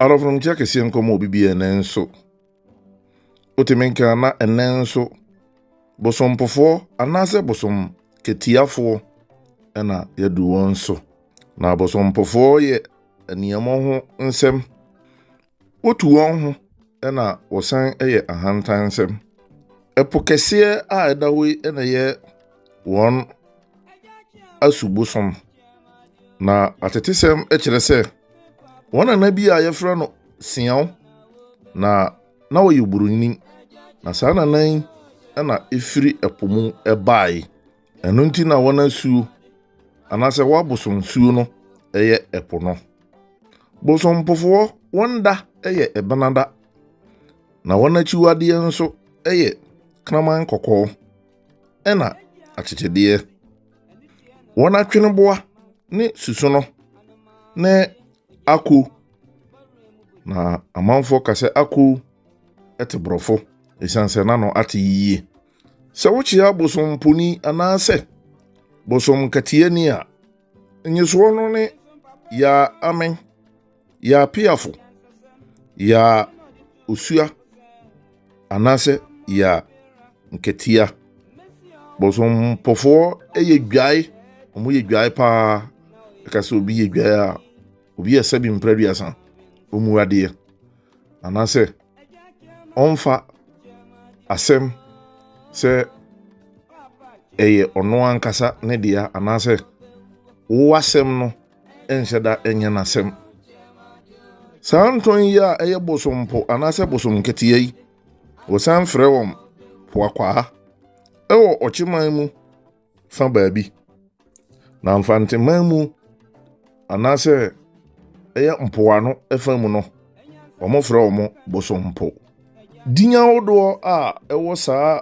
Adɔfo nom kyɛ kɛseɛ nkɔm obi bi ɛnɛ nso wotumi nka na ɛnɛ nso bosompofoɔ anaasɛ bosom katiafoɔ ɛna yɛadu wɔn so na abosompofoɔ yɛ nneɛma ho nsɛm wotu wɔn ho ɛna wɔsan ɛyɛ ahantan nsɛm ɛpo kɛseɛ a ɛda hɔ yi ɛna yɛ wɔn asu bosom. Na atetesɛm kyerɛ sɛ wɔn nana bi a yɛfrɛ no Siaw na na ɔyɛ buroni. Na saa nana yi na efiri ɛpo mu bae. Ɛno nti na wɔn asuo anaasɛ wɔabosom suo no yɛ ɛpo no. Bosompofoɔ wɔn da yɛ ɛbenada. Na wɔn akyiwadeɛ nso yɛ kraman kɔkɔɔ. ɛna akyekyedeɛ. Wɔn atweneboa ne susono ne ako. Na amanfoɔ ka sɛ ako te borɔfo ɛsiane sɛ n'ano ate yie. Sɛ wokyea bosomponi anaasɛ bosom katiani a, nyesoɔ no ne yaa amen. Yɛa piafo, yɛa osua, anaasɛ yɛa nkatia. Bɔsɔmpɔfoɔ yɛ dwae, wɔn yɛ dwae paa. Ɛka sɛ obi yɛ dwae a, obi yɛ sɛbi mpere aduasa, wɔn mu adeɛ. Anaasɛ ɔmfa asɛm sɛ ɛyɛ ɔno ankasa ne dea, anaasɛ wo asɛm no nhyɛ da nyɛ n'asɛm. Saa ntɔn yi a ɛyɛ bosompo anaasɛ bosom nketewa yi, wɔsan frɛ wɔn poakwaa wɔ ɔkyeman mu fa baabi, na mfanteman mu anaasɛ ɛyɛ mpoano fa mu no, wɔfrɛ wɔn bosompo. Din ahodoɔ a ɛwɔ saa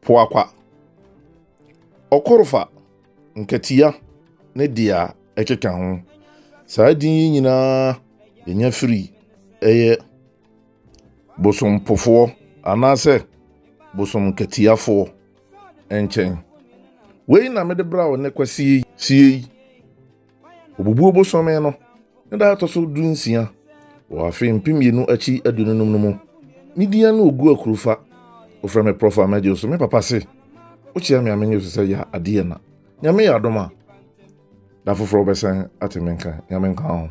Poakwa, Ɔkorofa, Nkatia ne dea ɛkeka ho. Saa din yi nyinaa yɛnya firi ɛyɛ bosompofoɔ anaasɛ bosomkatiafoɔ nkyɛn. Wei na mede bra wo nnɛ kwasie yi. Obubuo bosome no ne da a ɛtɔ so dunsia wɔ afe mpem mmienu akyi aduonu num no mu. Me din ne Ogu Akurufa. Wofrɛ me Prɔfo Amagye Osu. Me papa se, Wokyea me a menyɛ osu sɛ yɛ adeɛ na. Nyame yɛ adom a, da foforɔ wobɛsan ate me nka. Nyame nka wo ho.